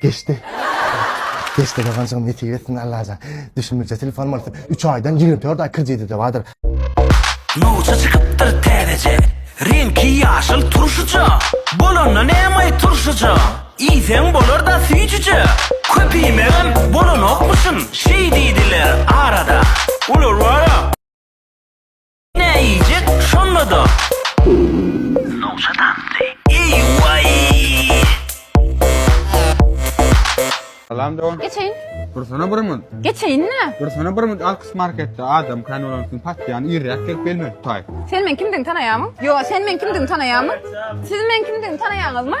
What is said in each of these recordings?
Geçdi. Geçdi Gazanjyň nesip etsin Allajan. Düşünmejä telefon bolupdyr. Üç aýdan ýigrimi dört aý krediti-de bardyr. Nowça çykypdyr täzeje. Reňki ýaşyl turşyja. Bolanda nämaý turşyja. Iýseň bolar-da süýjüje. Köp iýmegem bolanokmyşyn. Şeý diýdiler arada. Olar bar-a. Näýjek şonda-da. Nowşat atly. Salam dogan. Geçeýin. Dursana bir mut. Geçeýin nä? Dursana bir mut Alkys marketde adam kan bolan üçin patýan irräk gelip belme tutaý. Sen men kimdigini tanaýamyň? Ýo, sen men kimdigini tanaýamyň? Siz men kimdigini tanaýaňyzmy?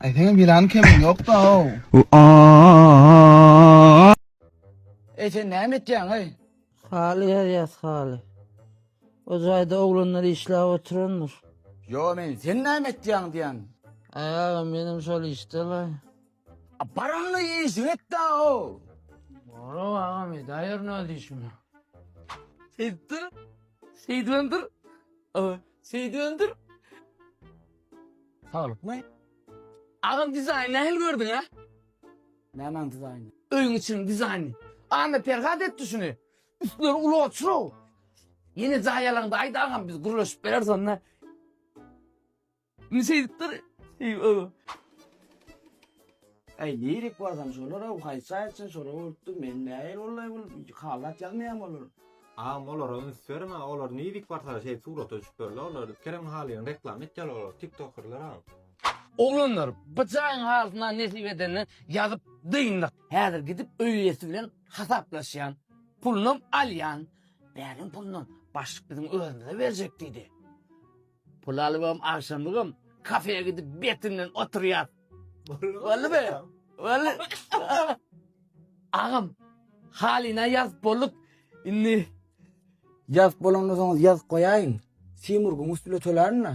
Ay senin bilan kemin yok da o. Ey sen näme etýäň ey? Haly ýazýas haly. O jaýda oglanlar işläp oturandyr. Yo men sen näme etýäň diýen. Ay aga menem şol işde la. Paramny iýşiň etdä-ow. Ora agam edäýer nädip işimi. Etdi. Şeýdibemdir. Aa, Şeýdibemdir. Saglykmy? Agam dizaýny nähili gördüň a? Nämäň dizaýny? Öýüň içiniň dizaýny. Anna Perhat etdi şuny. Üstleri uly oturow. Ýene jaý alaňda aýt agam biz gürleşip bereris onda. Indi şeýdipdir. Äý nirek barsaň şolara haýsy aýtsyn şolar bolupdyr men näýel ollaý bul halat ýazmaýam olar. Agam olara üns beriň ha olar nirek barsalar şeýdip surata düşüp ýörler olar Kerem Halyň reklama etýärler olar tiktokerler agam. Oglanlar bu jaýyň halysyny ha nesip edende ýazyp dyndyk. Häzir gidip öý eýesi bilen hasaplaşýan. Pulunam alýan. Bäriň pulunam. Başlyk biziň özümize berjek diýdi. Pul alybam, agşamlygam kafeýa gidip beti bilen oturýas. Boldumy? Boldy. Agam, halyna ýazyp bolduk. Indi Ýazyp bolandan soň ýazyp goýaýyň. Timur gümüş bile tölärin-le.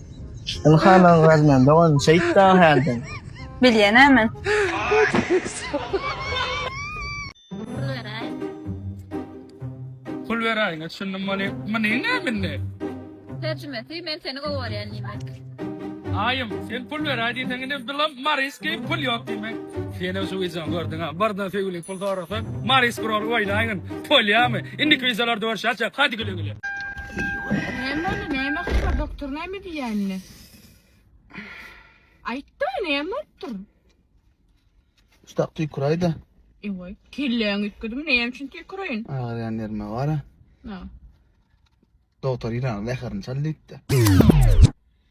Ilhan Agraz men dogan şeýt da hälden. Bilýän ä men. Pul beräý ne şundan many many ne minne. Terjimesi men seni gowy görýän diýmek. Aýym sen pul beräý diýseň indi bilam mariski pul ýok diýmek. Senem şu wideony gördüň a birden söýgüliň pul sorasa mariski rol oýnaýyn polýamy indiki wideolarda görüşýäs hadi güle güle. Näme boldy, näme habar, doktor näme diýýär indi? Aýtda, näme bolupdyr? Şutak tüýküräýdi. Ewa, kelläň üýtgedimi, näme üçin tüýküreýin? Agyrýan ýerime gara. Ha. Doktor ýylan zäherini çal diýipdi.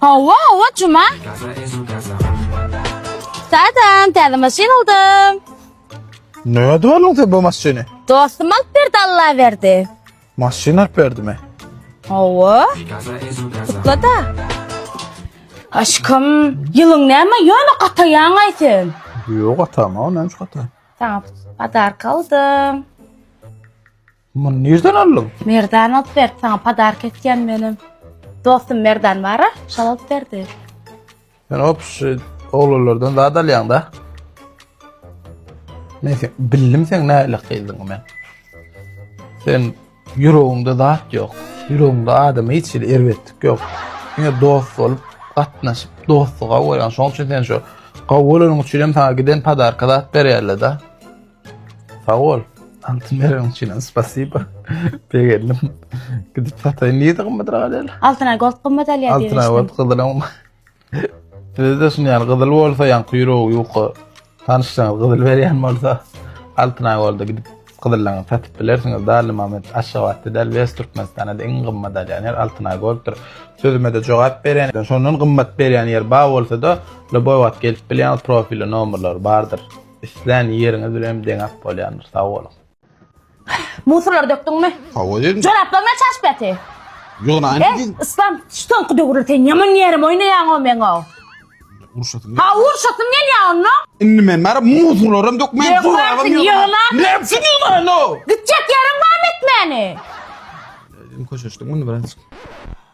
Hawa hawa juma. Sadan täze maşyn aldym. Näde oldun sen bu maşyny? Dostum alyp berdi Allah berdi. Maşyn alyp berdimi? Hawa. Kutla da. Aşkım, yılın näme ýöne gataýaň ay sen? Yok atama o neymiş ata. Sana padark aldım. Muny nirden aldyň? Merdan alyp berdi, sana podark etýän benim. Dostum Merdan bara, şal alyp berdi. Sen hop şu oglanlardan zat alýaň da. Men sen, bildim sen näle gyzdyň men. Sen ýüregiňde zat ýok. Ýüregiňde adama hiç hili erbetlik ýok. Ýöne dost bolup, gatnaşyp, dostluga goýan. Şoň üçin sen şu gawy bolanyň üçin hem sana giden podarka zat berýärler da. Sag bol. Altyn bereniň üçin hem spasiba. Begendim. Gidip sataýyn diýdi gymmat raýal. Altyn ay gold gymmat alýar diýdi. Altyn ay gold gyzyl hem. Bizde şuny ýaly gyzyl bolsa ýan kuýrugy ýuka. Tanyşsaň gyzyl berýän bolsa altyn ay golda gidip gyzyllaňy satyp bilersiňiz. Dali Mamet Aşgabatda däl wes Türkmenistana iň gymmat alýan ýer altyn ay golddyr. Sözüme de jogap berýän. Şondan gymmat berýän ýer bar bolsa da, Loboýwat gelip bilýän profili nomerler bardyr. Islän ýeriňiz bilenem deňäp bolýandyr, sag boluň. Musurlary dökdüňmi? Hawa dedim. Joraplaryňa çaş beti. Ýogna anne Ey, dedim. Islam, şu soňky döwürde sen ýaman ýerim oýnaýaň-ow meň-ow. Urşasyn. Ha, urşasyn gelýär onda. Indi men bara muzurlaram dökmän Dökmänsiň, zorabam ýören. ýyglarsyň. Ne üçin ýyglaýyn o? Gitjek ýeriň barmy etmäni? Dedim köşeşdim bunu biraz.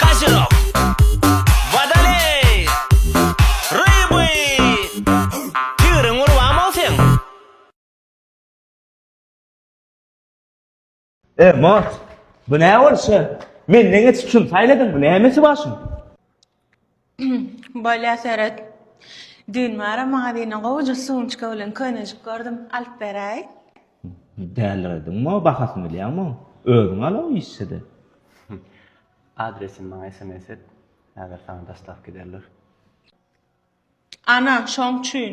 Kazirok. Wadaley. Ryby. Tigriň gurban bolsun. E, Mort, bu nä bolşy? Menden geçip şuny saýladyň, bu nämesi başyň? Bolýa seret. Düýn bara magazine gowuja sumçka bilen köýnejik gördüm, alyp beräý. Dälirediňmo, bahasyny bilýäňmi? Özüň al-a işse-de. Adresini maňa sms et, häzir saňa dostawka ederler. Ana, şoň üçin.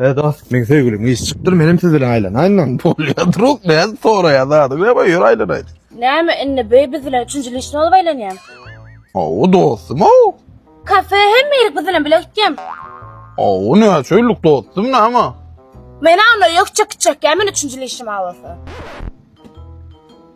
He dost, men söýgülim iş çykdyr, menem siz bilen aýlanaýyndan. Bolýar, druk, näz soraýar zady, we boýur aýlanaýyn. Näme indi bu biz bilen üçünji lişni bolup aýlanýaň? Hawa dostum, hawa. Kafe hem meýlik biz bilen bile gitýäň. Hawa, näçe ýyllyk dostum, näme? Men onda ýok çykyp çekýän, men üçünji lişim bolsa.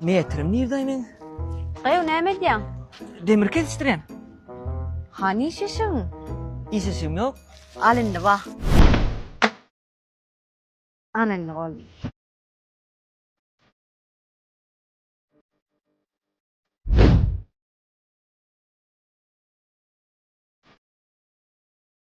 Metrim nirde meniň? Gyýw näme edýäň? Demir kesişdirýän. Hany iş eşigiň? Iş eşigim ýok. Al indi ba. Ana indi boldy.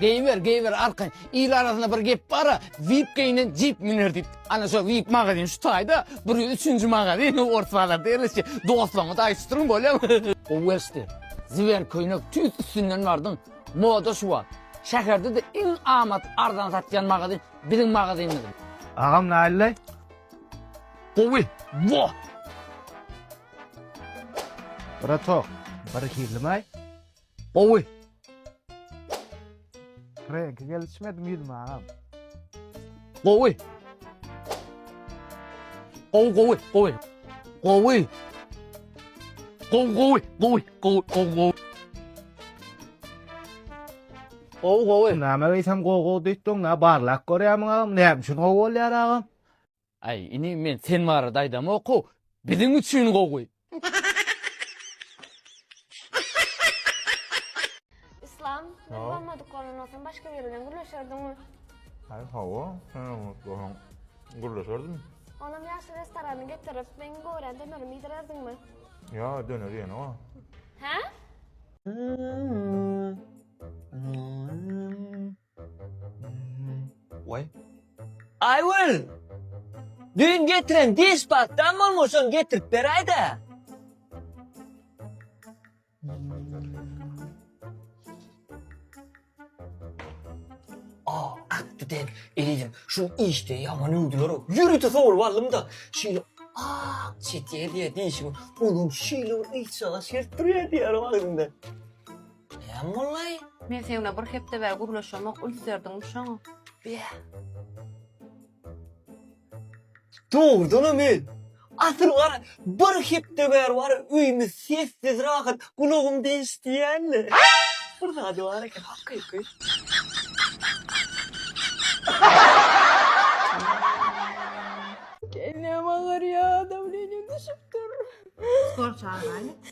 Geýiber, geýiber arkaýyn. Il arasynda bir gep bar-a, Vip geýnen jip müner diýip. Ana şo Vip magazin şu taýda, bir üçünji magazin Ors bazarda ýerleşýär. Dostlaryňyza aýdyp turuň bolýamy? Oweşdi, ziwer köýnek tüýs üstünden bardyň. Moda şu wagt. Şäherde-de iň amat arzan satýan magazin biziň magazynymyz. Agam näleýleý? Gowy. Wah! Bratok, birhilimaý? Gowy. Reňki gelişmedim ýüzüme agam. Gowy. Gowy gowy gowy. Gowy. Gowy gowy gowy gowy gowy gowy. Gowy gowy. Näme geýsem gowy gowy diýip durň, nä barlap görýärmiň agam? Näme üçin gowy bolýar agam? Aý ini men sen barada aýdamoku biziň üçin gowy. Islam biz bolmadyk bolan bolsaň başga biri bilen gürleşerdiňmi? Aý hawa sen bolmadyk bolsaň gürleşerdim. Onam ýagşy restorana getirip meň gorän dönerimi iýdirerdiňmi? Ýa döner ýene wa. Hä? Waý. Aýgül! Düýn getiren diş pastam bolmaly, şony getirip beräý-dä. Aw, atdy däl. Elýeýsem, şuny işde ýaman öwdüler-ow. Ýörite sowlup aldym-da, şeýle ak çeker diýýär dişiň, olam şeýle bir yçjaga şert durýar diýýär-ow agzymda. Näme boldy? Men seňle bir hepde bäri gürleşemok, üns berdiňmi şoňa? Beh. Dogrudan-a men. Asyl gara, bir hepde bäri wara öýümiz sessiz, rahat, gulagymda eşidýän-le. Bir zady bar eken, hakyky. Gelnem agarýar, dawleniýem düşüpdir. Skor çagyraýly.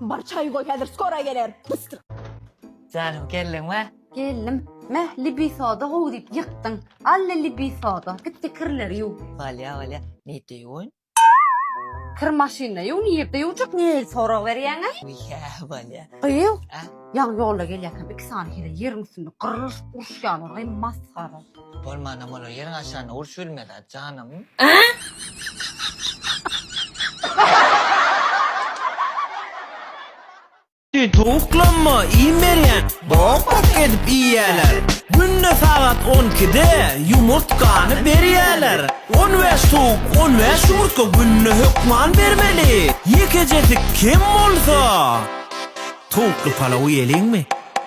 Bar çaý goý häzir skora geler. Bystryk. Janym geldiňmi? Geldim. Meh libi soda gowy diýip ýykdyň. Alle libi soda. Gitdi kirleri ýuw. Walýa walýa. Nirde ýuwun? Kir maşynda ýuw nirde ýuwjak nireli sorag berýäňä. Wiýa walýa. Gyz A? ýaňy ýolda gelýärkäm iki sany heleý ýeriň üstünde gyrryşyp uruşýarlar aý masgara. Bolmanam bolar ýeriň aşagyna urç bilmez a janym. Towuklamma iým berýän bok bok edip iýýäler Günde sagat on ikide ýumurtkany berýäler On bäş towuk on bäş ýumurtga günde hökman bermeli Ýekejesik kem bolsa towukly palaw iýeliňmi?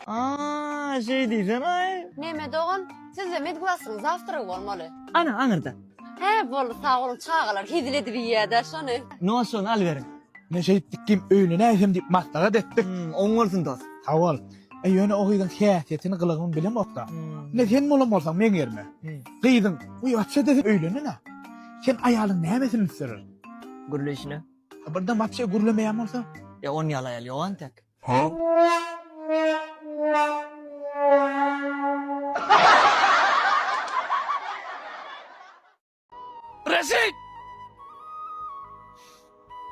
Aaa şeý diýsene. Meme dogan sizde medglasyň zawtragy bolmaly. Ana aňyrda. Hä boldy sag boluň çagalar hezil edip iýýädä şony. No şony alyberiň. Men şeýtdik kim öýüne näsem diýip maslahat etdik. Hmm oň bolsun dos. Sag bol. E ýöne o gyzyň häsiýetini gylygyny bilemokda. Ine sen bolan bolsaň meň ýerime. Gyzyň uýa atsa desem öýlenenä. Sen aýalyň nämesini üstserer? Gürleýşine. Birden wapşe gürlemeýän bolsa? Ýa on ýaly aýal ýok entek. Reşit!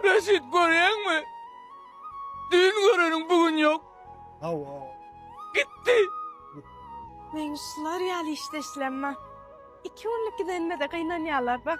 Reşit görýäňmi? Düýn göreniň bu gün ýok. Hawa. Gitdi. Men şular ýaly işdeşlemma. Iki günlük gidenime-de gynanýarlar bak.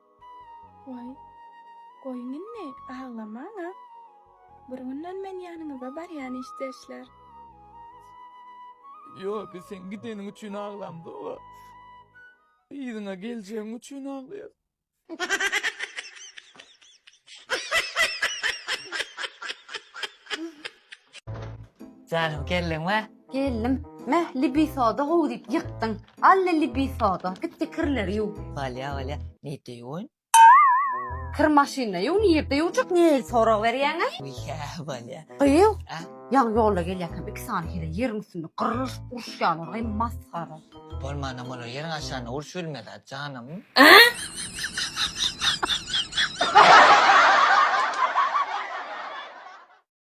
Waý, goýuň indi, aglamaň-a. Bir günden men ýanyňyza barýan, işdeşler. Ýok, biz seň gideniň üçin aglamzok-a. Yzyňa geljegiň üçin aglaýas. Janymy geldiňmi? Geldim. Meh, libi soda gowy diýip ýykdyň. Al-le libi soda. Git-de kirleri ýuw. Bolýa, bolýa. Nirde ýuwun? Kir maşynda ýuw, nirde ýuwjak? Nirä sorag berýäň-aý? Ýa, bolýa. Gyz, A? ýaňy ýolda gelýärkäm iki sany heleý ýeriň üstünde gyrryşyp uruşýarlar-aý, masgara. Bolmanam bolar, ýeriň aşagynda uruş bilmez-ä, janym.